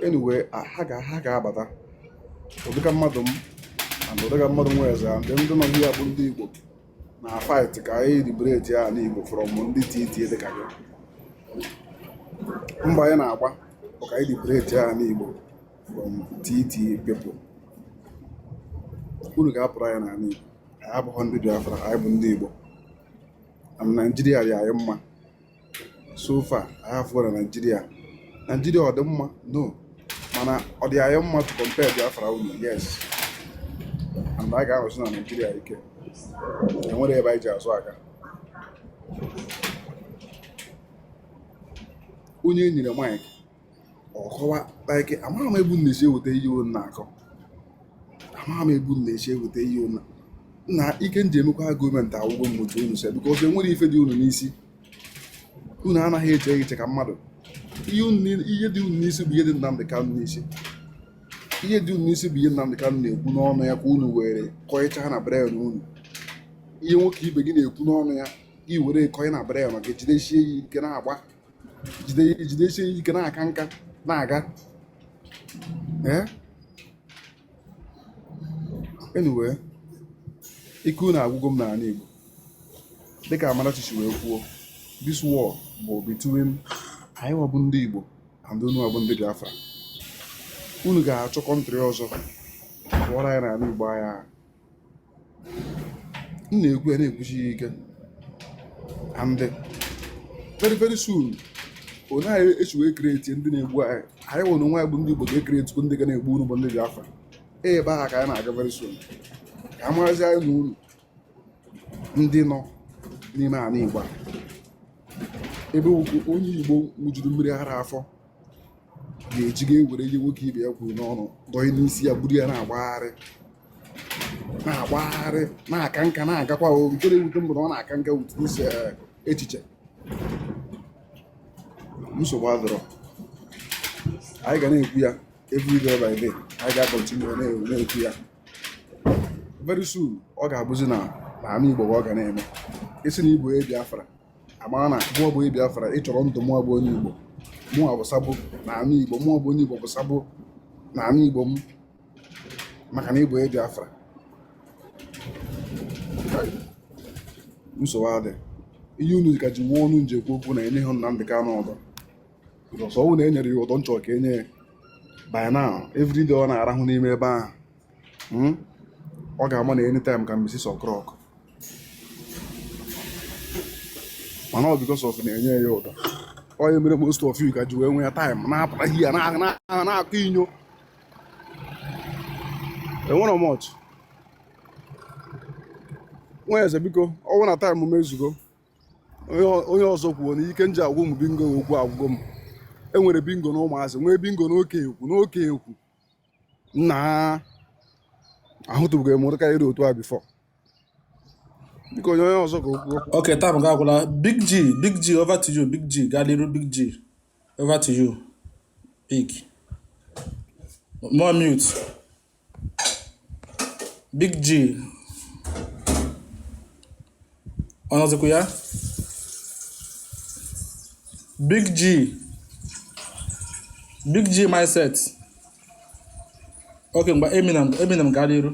anyway ha ga ha ga-abata ụdịka mmadụ m and ụdịka mmadụ Nweze and ndị nọ here bụ ndị Igbo na fight ka anyị liberate ya ala Igbo from ndị titi dịka gị mgba anyị na-agba bụ ka anyị liberate ya ala Igbo from titi people unu ga-apụrụ anyị n'ala Igbo anyị abụghị ndị Biafra anyị bụ ndị Igbo na Naijiria dị anyị mma so far anyị afụgo na Nigeria Nigeria ọ dị mma no mana ọ dị anyị mma to compare Biafra unu yes and anyị ga-anọsi na Nigeria ike enwere ebe anyị ji azụ aga onye e nyere mike ọ kọwa like amaghị m ebe unu na-esi eweta ihe unu na-akọ amaghị m ebe unu na-esi eweta ihe unu na ike m ji emekwa argument agwụgo m otu unu si because enwere ife dị unu n'isi unu anaghị eche eche ka mmadụ ihe dị unu n'isi bụ ihe dị Nnamdị Kanụ n'isi ihe dị unu n'isi bụ ihe Nnamdị Kanụ na-ekwu n'ọnụ ya ka unu were kọịcha na brain unu ihe nwoke ibe gị na-ekwu n'ọnụ ya gị were kọị na brain gị jidesie ya ike na-agba jidesie ike na-aka nka na-aga anyway ike unu agwụgo m n'ala Igbo dịka Amarachi si wee kwuo this war bụ between anyị nwa bụ ndị Igbo and unu nwa bụ ndị Biafra unu ga-achọ country ọzọ pụọrọ anyị n'ala Igbo aga m na-ekwu ya na-ekwusi ya ike and very very soon onye anyị esi wee create ndị na-egbu anyị anyị nwa onwe anyị bụ ndị Igbo ga-ekretikwu ndị ga na-egbu unu bụ ndị Biafra ebe aha ka anyị na-aga very soon ka a mazi anyị na unu ndị nọ n'ime ala Igbo a ebe onye Igbo ṅụjuru mmiri ara afọ ga-eji ga-ewere ihe nwoke ibe ya kwuru n'ọnụ dọị n'isi ya buru ya na-agbagharị na-agbagharị na-aka nka na-agakwa o nke na-ewute m bụ na ọ na-aka nka wute n'isi eh, echiche nsogbu adịrọ anyị ga na-ekwu ya every day by day anyị ga-akọntinu na-ekwu ya very soon ọ ga-abụzi na n'ama Igbo ọ ga na-eme ị sị na ị bụ Biafra amara na mụọ bụ Biafra ị chọrọ ndụ mụọ bụ onye Igbo mụọ bụ sabo na ala Igbo mụọ bụ onye Igbo bụ sabo na ala Igbo m maka na ị bụ Biafra nsogbu adị ihe unu ka ji nwee ọnụ unu ji ekwu okwu na enyeghị Nnamdị Kanụ ụdọ ọ wụ na e nyere ya ụdọ m chọ ka e nye ya by now every day ọ na-arahụ n'ime ebe ahụ hmm? ọ ga-ama na anytime ka Mrs. Okrok mana ọ because of na-enye ya udo ọ ya mere most of you ka ji wee nwee ya time na-apụta here na-akọ inyo enwerọ much nwa eze biko ọ wụ na taịm m ezugo onye ọzọ kwuo na ike nji agwụ m bingo okwu agwụgo m enwere bingo na ụmụazị nwee bingo n'oke ekwu n'oke ekwu nna ahụtụbeghị m ụdị karịrị otu a before biko onye onye ọzọ ka o kwuo Okay, time gị agwụla. Big G, Big G, over to you, Big G. Gaa n'iru Big G. Over to you, Big. Unmute. Big G. ọ nọzikwa ya big g big g mindset okay ngwa eminem eminem gaa n'iru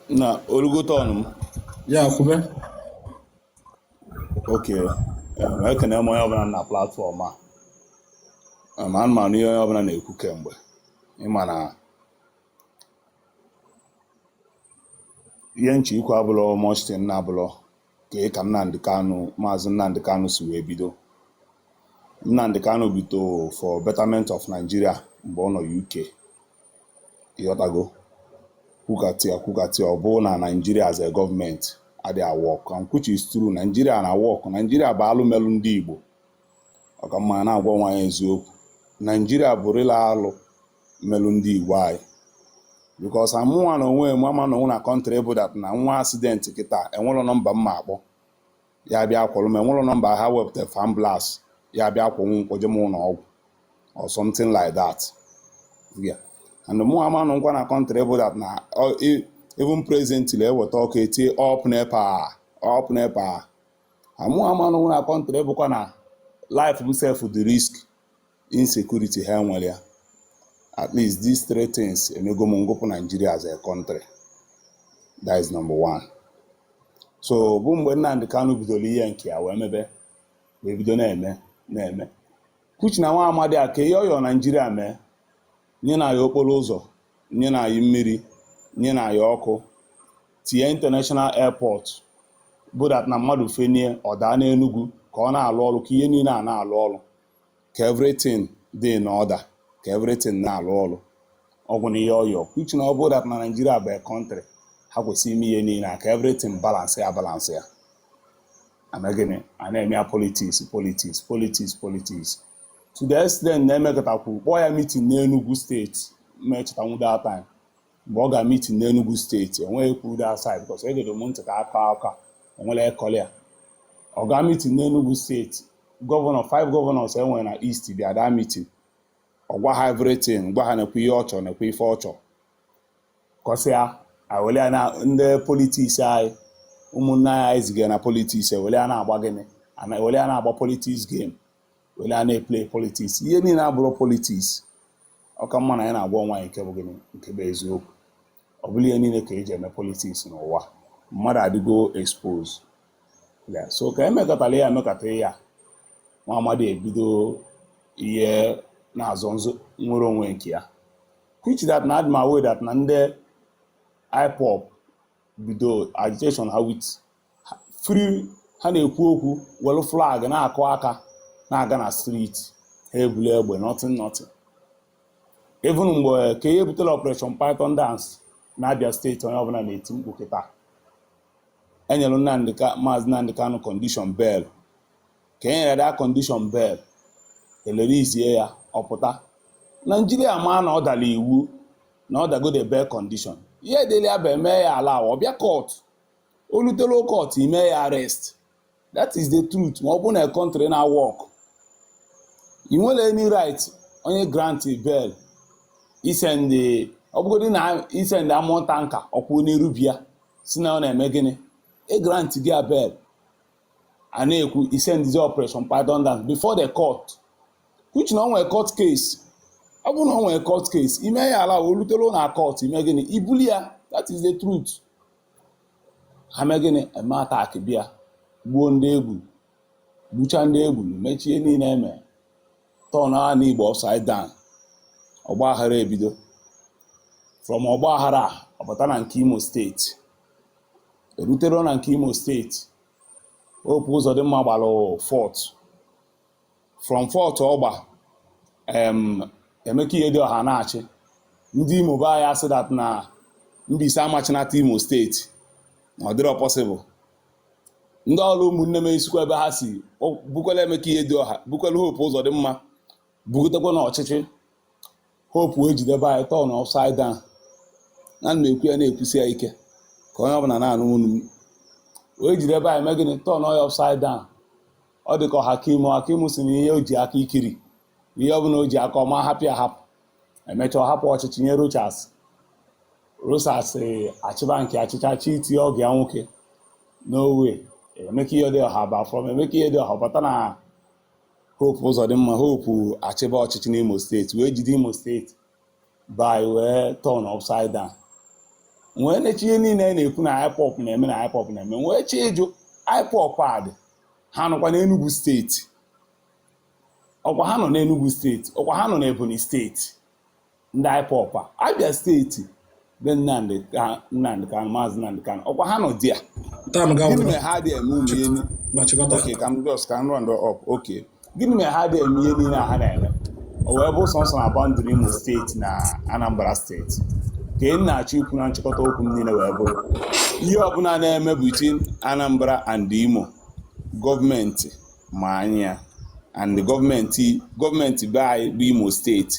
na o rugo turn m ya kwube okay em, ekene m onye ọbụla na platfọm a Em, ana m anụ ihe onye ọbụla na-ekwu kemgbe ịma na ihe nchè ikwu abụlọ much thing na abụlọ kà e kà Nnamdi Kanu mazi Nnamdi Kanu sì wèe bido Nnamdi Kanu bido for betterment of Nigeria m̀gbè ọ nọ̀ UK ịghọtago kwukàtị à kwukàtị à ọ̀ bụrụ nà Nigeria as a government adị̀ à work and which is true Nigeria nà work Nigeria bụ̀ alụ melụ ndị Ìgbò ọ ka mma nà-àgwa onwe anyị eziokwu Nigeria bụ̀ real alụ melụ ndị Igbo anyị because amụnwa na onwe m ama anọnwu na country bụ that m nwee accident kịta enwerọ nọmba m ma-akpọ ya bịa kwọrọ m enwerọ nọmba ha wepụta ambulance ya bịa kwọrọ m kwọje m ụlọ ọgwụ or something like that yeah. and mụ ama anọkwa na country bụ that na even presently eweta ọkụ etie up NEPA up NEPA amụ ama anọnwu na country bụkwa na life m sef dị risk insecurity ha nwere ya at least these three things emego m ngụpụ Nigeria as a country that is number one so ọ bụ mgbe Nnamdi Kanu bidoro ihe nke ya wee mebe wee bido na-eme na-eme kuchi na nwa amadi a ka ihe ọ yọ Naijiria mee nyenụ anyị okporo ụzọ nyenụ anyị mmiri nyenụ anyị ọkụ tinye international airport bụ that na mmadụ fenie ọ daa n'enugwu ka ọ na-alụ ọrụ ka ihe niile a na-alụ ọrụ ka everything dị in order ka everything na-alụ ọrụ ọ gwụla ihe ọ yọ uche na ọ bụrụ that na naijiria bụ a country ha kwesịrị ime ihe niile ka everything balance ya balance ya e mee gịnị a na-eme ya politics politics politics politics to the extent na e mekatakwuru kpọọ ya meeting n'Enugu steeti ma echetanwu that time mgbe ọ ga meeting n'Enugu steeti enweghị kwuru that side because egere m ntị ka a kọ akọ enwere ekọrị ya ọ ga meeting n'Enugu steeti governor five governors enwere na east bịa that meeting ọ gwa ha everything gwa ha nekwa ihe ọ chọrọ nekwa ife ọ chọrọ kọsịa ewele ya na ndị politics anyị ụmụnne anyị anyị zigara na politics ewele ya na-agba gịnị ana ewele ya na-agba politics game were ya na-eplay politics ihe niile abụrụ politics ọ ka mma na ya na-agwa onwe anyị nke bụ gịnị nke bụ eziokwu ọ bụrọ ihe niile ka eji eme politics n'ụwa mmadụ adịgo exposed so ka emekatala ya emekata ya nwa amadi ebido ihe na-azọ nnwere onwe nke ya which that na adị m aware that na ndị IPOB bido agitation ha with free ha na-ekwu okwu were flag na-akụ aka na-aga na street ha eburo egbe nothing nothing even mgbe ka ihe butere operation python dance na Abia steeti onye ọbụla na-eti mkpu kịta enyere Nnamdi Ka maazị Nnamdi Kanu condition bail ka e nyere that condition bail e releasezie ya ọ pụta Naijiria maa na ọ dara iwu na ọ dago the bail condition ihe dịrị ya bụ eme ya allow ọ bịa court o rutero court ime ya arrest that is the truth ma ọ bụ na country na-awork ị nwero any right onye grant bail i send ọ bụgodị na i send armoured tanker ọ kwụ n'iru be ya sị na ọ na-eme gịnị e grant ya bail a na-ekwu i sendizi operation python dance before the court which na o nwe court case ọ bụrụ na o nwe court case ime ya allow o rutero na court ime gịnị ibuli ya that is the truth ha mee gịnị eme attack bịa gbuo ndị e gburu gbucha ndị e gburu mechaa ihe niile eme turn ana Igbo upside down ọgba aghara ebido from ọgba aghara ọ bata na nke Imo steeti erutere na nke Imo steeti Hope Uzodimma gbara fourth from fourth ọ gba Emeka Ihedioha na-achị ndị Imo be anyị asị that na Mbaise ama achịnata Imo steeti na ọ dịrọ possible ndị Orlu ụmụnne m esikwa ebe ha si bukwela Emeka Ihedioha bukwela Hope Uzodimma bugotekwa na ọchịchị Hope wee jide be anyị turn upside down ana m ekwu ya na-ekwusi ya ike ka onye ọbụla na-anụ onu m wee jide be anyị mee gịnị turn ya upside down ọ dị ka ọhakim ọhakim si na ihe o ji aka ikiri na ihe ọ bụla o ji aka ọma hapụ ya hapụ emechaa ọ hapụ ọchịchị nye rochas rochas achịba nke achịcha chọọ itinye ọgọ ya nwoke no way emeka ihedioha ba from emeka ihedioha bata na hope uzodimma hope achịba ọchịchị n'imo steeti wee jide imo steeti bịa wee turn upside down wee nechaa ihe niile a na-ekwu na IPOB na-eme na IPOB na-eme wee chọọ ịjụ IPOB a dị ha nọkwa n'Enugu steeti ọkwa ha nọ n'Enugu steeti ọkwa ha nọ n'Ebonyi steeti ndị IPOB a Abia steeti be Nnamdị Ka- Nnamdị Kanụ maazị Nnamdị Kanụ ọkwa ha nọ there Taa m gịnị gawụrụ mere ha dị eme ụmụ ihe ma chịkọta. okay ka m just ka m round up okay gịnị mere ha dị eme ihe niile a ha na-eme o wee bụ sọsọ na boundary imo steeti na anambra steeti ka ị na-achọ ikwu na nchịkọta okwu m niile wee bụrụ ihe ọbụla na-eme between anambra and imo gọọmenti ma anya and gọọmenti gọọmenti be anyị bụ imo steeti